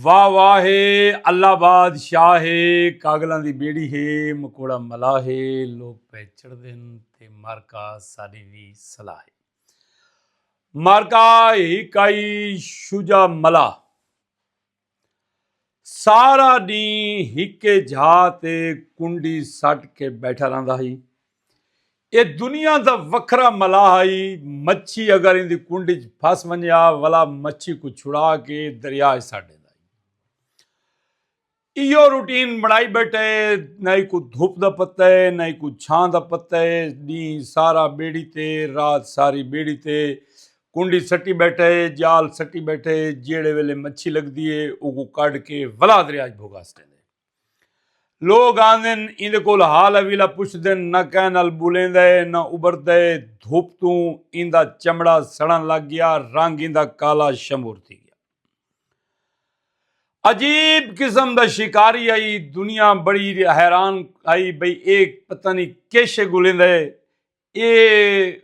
واہ واہ ہے اللہ باد شاہ ہے کاگلاں دی بیڑی ہے مکوڑا ملا ہے لوگ پہ چڑھ دن تے مارکا ساری وی صلاح ہے مارکا ہی کائی شجا ملا سارا دین ہکے جھا تے کنڈی سٹ کے بیٹھا رہندا ہی ایہ دنیا دا وکھرا ملاح ہئی، مچھی اگر ایندی کنڈ اچ پھس ونجے ہا ولا مچھی کوں چھڑا کے دریا اچ سٹ ڈیندا ہئی۔ ایہو روٹین بنڑائی بیٹھا ہے، نہ ایکوں دھپ دا پتہ ہے نہ ایکوں چھاں دا پتہ ہے، ڈینہہ سارا بیڑی تے رات ساری بیڑی تے، کنڈی سٹی بیٹھا ہے، جال سٹی بیٹھا ہے، جیہڑے ویلے مچھی لگدی ہے اوکوں کڈھ کے ولا دریا اچ بھگا سٹیندا ہے۔ لوگ آندن ایندے کول حال حویلہ پچھدن نہ کہیں نال بولیندا اے نہ ابھردا اے دھپ توں ایندا چمڑا سڑن لگ گیا رنگ ایندا کالا شمور تھی گیا عجیب قسم دا شکاری آئی دنیا بڑی حیران آئی بھئی اے پتہ نہیں کیشے گولیندا اے اے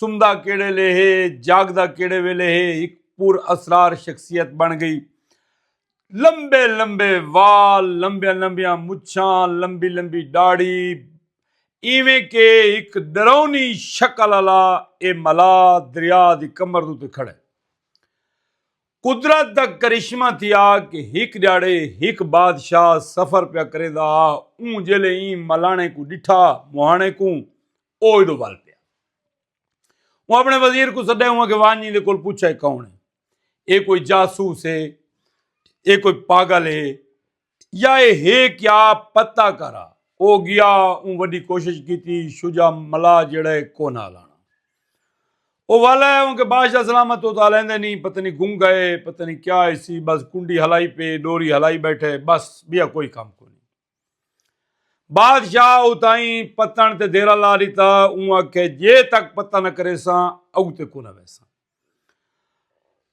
سمدا کیڑے لے ہے جاگدا کیڑے ویلے ہے ایک پر اسرار شخصیت بن گئی لمبے لمبے وال لمبیاں لمبیاں مچھاں لمبی لمبی ڈاڑی ایویں کہ ایک ڈرونی شکل والا اے ملا دریا دی کمر دے کھڑے قدرت دا کرشمہ تھیا کہ ہک ڈیہاڑے ہک بادشاہ سفر پیا کریندا ہا اوں جیلے ایں ملانے کوں ڈٹھا مہانے کوں او ایڈو ول پیا اوں اپنے وزیر کوں سڈے اوں کہ ونج ایندے کول پچھے کون ہے اے کوئی جاسوس ہے اے کوئی پاگل ہے یا اے ہے کیا پتہ کر آ۔ او گیا اوں وڈی کوشش کیتی شجاع ملا جیڑھا اے کونہ الانا۔ او والا اے اونکہ بادشاہ سلامت او تاں الیندے نی پتہ نی گم گئے اے پتہ نی کیا ہسی بس کنڈی ہلائی پے ڈوری ہلائی بیٹھے بس بیا کوئی کم کونی۔ بادشاہ او تائیں پتن تے دیرا لا ڈتا اوں آکھے جے تک پتہ نہ کریساں اگتے کونہ ویساں۔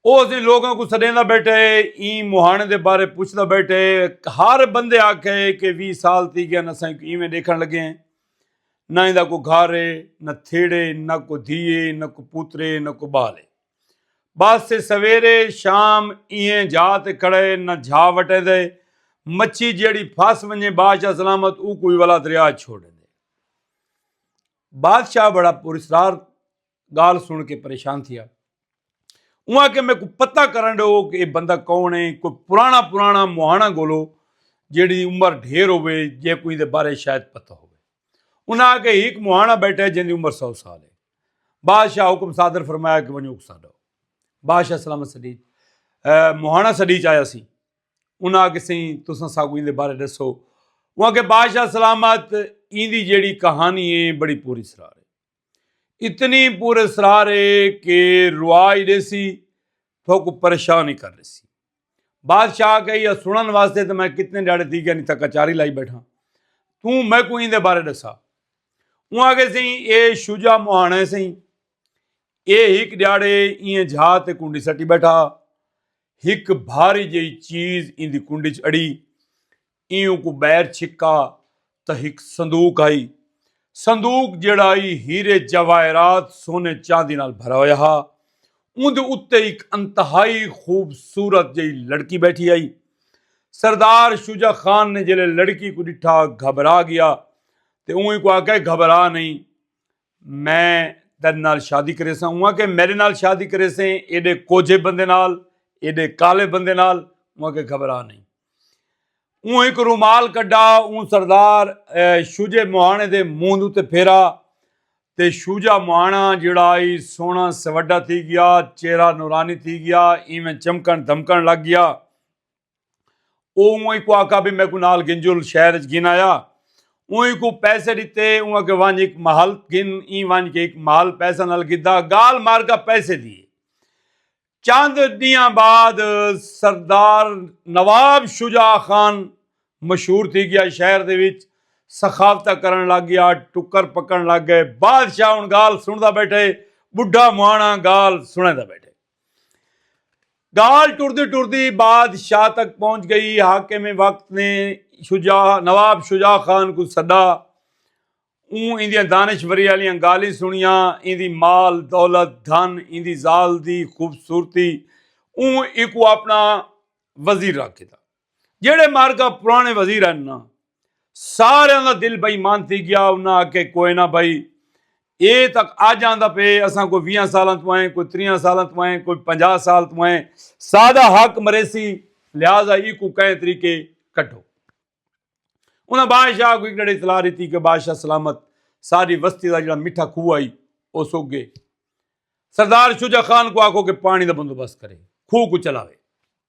او اسی لوگاں کو سڈیندا بیٹھے ایں مہانے دے بارے پچھدا بیٹھے ہر بندے آکھے کہ وی سال تھی گیا نہ سائیں کو ایویں دیکھن لگے ہیں نہ ایندا کو گھر ہے نہ تھیڑے نہ کو دھیے نہ کو پوترے نہ کو بالے بس سویرے شام ایئں جا تے کھڑے نہ جھا وٹے دے مچھی جیڑی پھس ونجے بادشاہ سلامت او کوئی والا دریا چھوڑے دے بادشاہ بڑا پرسرار گال سن کے پریشان تھیا اوں آ کے میں کو پتہ کرن ڈو کہ یہ بندہ کون ہے کوئی پرانا پرانا مہانا گولو جیڑی عمر ڈھیر ہوئے جے کوئی دے بارے شاید پتہ ہوئے انہاں آ کے ایک مہانا بیٹھا ہے جن دی عمر سو سال ہے بادشاہ حکم صادر فرمایا کہ ونجو اکسا ڈو بادشاہ سلام سڈیج مہانا سڈیج آیا سی انہاں آ کے سی تساں سا کوئی دے بارے ڈسو وہاں کے بادشاہ سلامت ایندی جیڑی کہانی ہے بڑی پوری سرار ہے اتنی پور اسرار ہے کہ روا ہی دے سی تھوک پریشان ہی کر دے سی بادشاہ کہی یا سنن واسطے تو میں کتنے ڈاڑے تھی گیا نہیں تھا کچاری لائی بیٹھا تو میں کو ہی دے بارے دسا وہ آگے سے ہی اے شجا مہانے سے ہی اے ہک ڈاڑے یہ جھا تے کنڈی سٹی بیٹھا ہک بھاری جی چیز ان دی کنڈی چڑی ایہوں کوں بئیر چھکا تاں ہک صندوق ہئی۔ صندوق جیہڑا ای ہیرے جواہرات سونے چاندی نال بھرا ہویا ہا۔ اوندے اتے ہک انتہائی خوبصورت جئی لڑکی بیٹھی ہئی۔ سردار شجاع خان نے جیلھے لڑکی کوں ڈٹھا گھبرا گیا تے اوں ایکوں آکھیا گھبرا نئیں۔ میں تیڈے نال شادی کریساں اوہاں آکھیا میڈے نال شادی کریسیں ایڈے کوجھے بندے نال ایڈے کالے بندے نال اوہاں آکھیا گھبرا نئیں اوں ہک رومال کڈھا اوں سردار شوجے مہانے دے منہ اتے پھیرا تے شوجا مہانا جڑا ای سونا سوڈا تھی گیا چہرہ نورانی تھی گیا ایویں چمکن دھمکن لگ گیا او اوئیں کو آکھا بھی میکوں نال گھنجل شہر اچ گھن آیا اوئیں کو پیسے ڈتے اوں اکھے ونج ہک محل گھن ایں ونج کے ہک محل پیسہ نال گھدا گال مار گا پیسے دی ہے چند ڈیاں بعد سردار نواب شجاع خان مشہور تھی گیا شہر دے وچ سخاوتہ کرن لگ گیا ٹکر پکن لگ گئے بادشاہ ہن گال سندا بیٹھے بڈھا مہانا گال سندا بیٹھے گال ٹردی ٹردی بادشاہ تک پہنچ گئی حاکم وقت نے شجاع نواب شجاع خان کو سدا اون ایندیاں دانشوری والیاں گالیں سنیاں ایندی مال دولت دھن ایندی زال دی خوبصورتی اون ایکو اپنا وزیر رکھ دیتا جیڑھے مارکا پرانے وزیر ہن نا ساریاں دا دل بے ایمان تھی گیا انہاں آکھے کوئے نہ بھائی اے تاں اج آندا پئے اساں کوئی ویہاں سالاں توں ہیں کوئی تریہاں سالاں توں ہیں کوئی پنجاہ سال توں ہیں ساڈا حق مریسی لہذا ایکوں کہیں طریقے کڈھو انہاں بادشاہ کو ایکڑے اطلاع دیتی کہ بادشاہ سلامت ساری وستی دا جڑا میٹھا کھو آئی او سوک گئے سردار شجا خان کو آکھو کہ پانی دا بندوبست کرے کھو کو چلاوے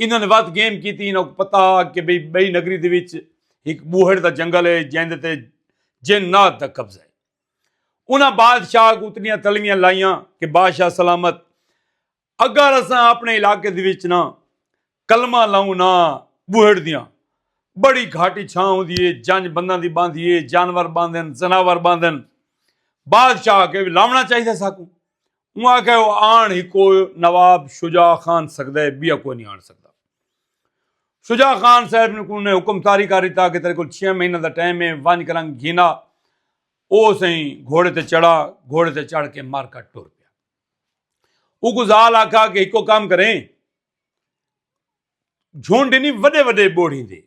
انہوں نے وقت گیم کی تھی انہوں کو پتا کہ بھئی بھئی نگری دے وچ ایک بوہر دا جنگل ہے جہاں دے جن نات دا قبضہ ہے انہاں بادشاہ کو اتنیاں تلویاں لائیاں کہ بادشاہ سلامت اگر اساں اپنے علاقے دے وچ نا کلمہ لاؤں نا بوہر دیاں بڑی گھاٹی چھاں ہوں دیئے جنج بندان دی باندھ دیئے جانور باندھن زناور باندھن بادشاہ کے لاؤنا چاہیے ساکوں اوں آکھیا او آن ہکو نواب شجاع خان سگدا اے بیا کوئی نی آن سگدا۔ شجاع خان صاحب نے کوں نے حکم طاری کر ڈتا کہ تیرے کول چھے مہینہ دا ٹائم اے ونج کرنگ گھینا او سئیں گھوڑے تے چڑھا گھوڑے تے چڑھ کے مر کٹ ٹر پیا۔ اوکوں زال آکھا کہ ہکو کم کریں جھنڈ نی وڈے وڈے بوڑھیں دے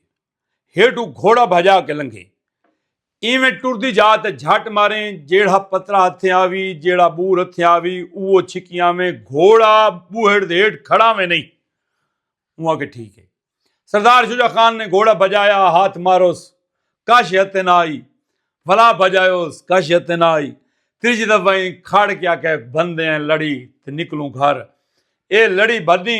ہیٹو گھوڑا بھجا کے لنگھے ایویں ٹردی جا تے جھٹ ماریں جیڑا پترا ہتھیں آوی جیڑا بور ہتھیں آوی اوہ چھکی آویں گھوڑا بوہڑ دے ہیٹ کھڑا میں نہیں اوہ کہ ٹھیک ہے سردار شجا خان نے گھوڑا بجایا ہاتھ ماروس کش ہتھیں نہ آئی بھلا بجایوس کش ہتھیں نہ آئی تیجی دفعہ کھڑ کیا کہ بندے ہیں لڑی تے نکلوں گھر اے لڑی بدی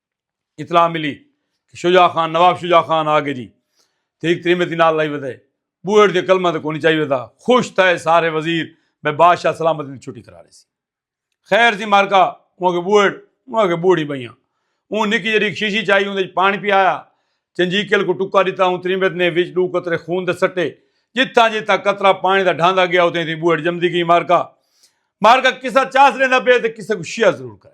اطلاع ملی کہ شجاع خان نواب شجاع خان آ گئے جی ٹھیک تریمے تھی نال لائی ودے بوئڑ دے کلمہ تے کونی چاہیے ودا خوش تھے سارے وزیر میں بادشاہ سلامت دی چھٹی کرا رہے سی خیر سی مارکا وہاں کے بوئڑ وہاں کے بوڑی بھائیاں اون نکی جڑی شیشی چاہیے اون پانی پی آیا چنجی کل کو ٹکا دیتا اون تریمت نے وچ دو قطرے خون دے سٹے جتھا جتھا قطرہ پانی دا ڈھاندا گیا اوتے تھی بوئڑ جمدی گئی مارکا مارکا کسا چاس رہندا پے تے کسا کو شیعہ ضرور کرے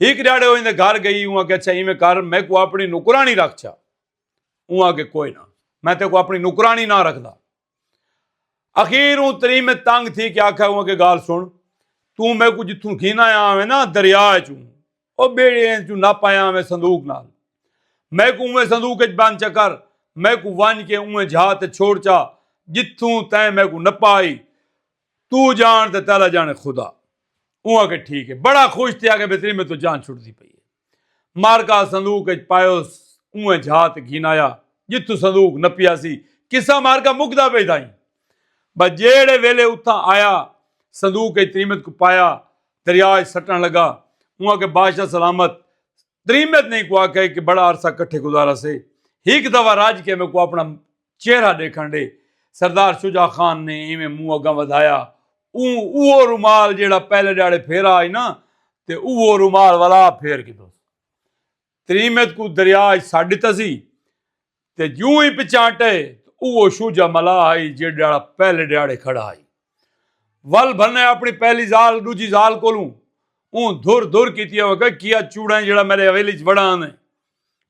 ہک ڈیاڑے اوہ ایندے گھر گئی اوں آکھیا اچھا ایویں کر میکوں اپنی نوکرانی رکھ چھا اوں آکھے کوئی نہ میں تیکوں اپنی نوکرانی نہ رکھدا اخیر اوں تریم تنگ تھی کہ آکھیا اوں آکھے گال سن تو میکو جتھوں گھینا آیا ہوئے نا دریا چوں او بیڑے چوں نہ پایا ہوئے صندوق نال میں کو اوے صندوق اچ بند چکر میں کو ونج کے اوے جھا تے چھوڑ چا جتھوں تیں میں کو نپائی توں جان تے تیلا جانے خدا۔ اوں آکھے ٹھیک ہے۔ بڑا خوش تھیا کہ بھتری میتوں جان چھٹدی پئی ہے۔ مارکا صندوق اچ پایوس اونویں جھا تے گھن آیا جتھوں صندوق نپیا سی۔ قصہ مارکا مکدا پئی تھا ایں۔ بس جیہڑے ویلے اتھاں آیا صندوق اچ تریمت کوں پایا دریا اچ سٹن لگا۔ اوں آکھے بادشاہ سلامت۔ تریمت نے ایں کوں آکھے کہ بڑا عرصہ کٹھے گزارا سے۔ ہک دفعہ رج کے میکوں اپنا چہرہ ڈیکھن ڈے سردار شجاع خان نے ایویں منہ اگاں ودھایا اوں اوہو رومال جیہڑا پہلے ڈیہاڑے پھیرا ہئی نا تے اوہو رومال ولا پھیر گھدوس تریمت کوں دریا اچ سٹ ڈتا سی تے جوں ہی پچانٹئ تاں اوہو شجاع ملاح ہئی جیہڑا ڈیہاڑا پہلے ڈیہاڑے کھڑا ہئی ول بھنئ اپنی پہلی زال ڈوجھی زال کولوں اوں دھر دھر کیتی اوکئ کیا چوڑائیں جیہڑا میڈے حویلی اچ وڑا آندئ۔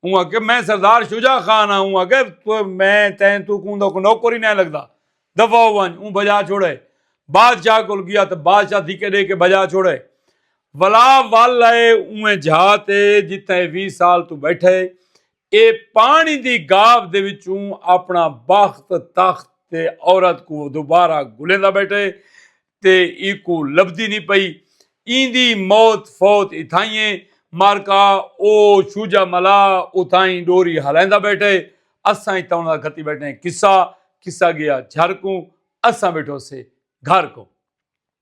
اوں آکھیا میں سردار شجاع خان ہاں اوں آکھیا میں تیں تو کوں دا نوکر ہی نہ لگدا دفع ہو ونج اوں بھجا چھوڑے بادشاہ کول گیا تے بادشاہ دھکے ڈے کے بھجا چھوڑے ولا ول لائے اونویں جھا تے جتھے وی سال تو بیٹھے اے پانی دی گاو دے وچوں اپنا بخت تخت تے عورت کو دوبارہ گلیندا بیٹھے تے اینکوں لبھدی نی پئی۔ ایندی موت فوت اتھائیں اے۔ مارکا او شوجا ملا اتھائیں ڈوری ہلائیندا بیٹھے۔ اساں اتھاں انہاں دا کھتی بیٹھے ہیں قصہ۔ قصہ گیا جھر کوں۔ اساں بیٹھو سے گھر کوں۔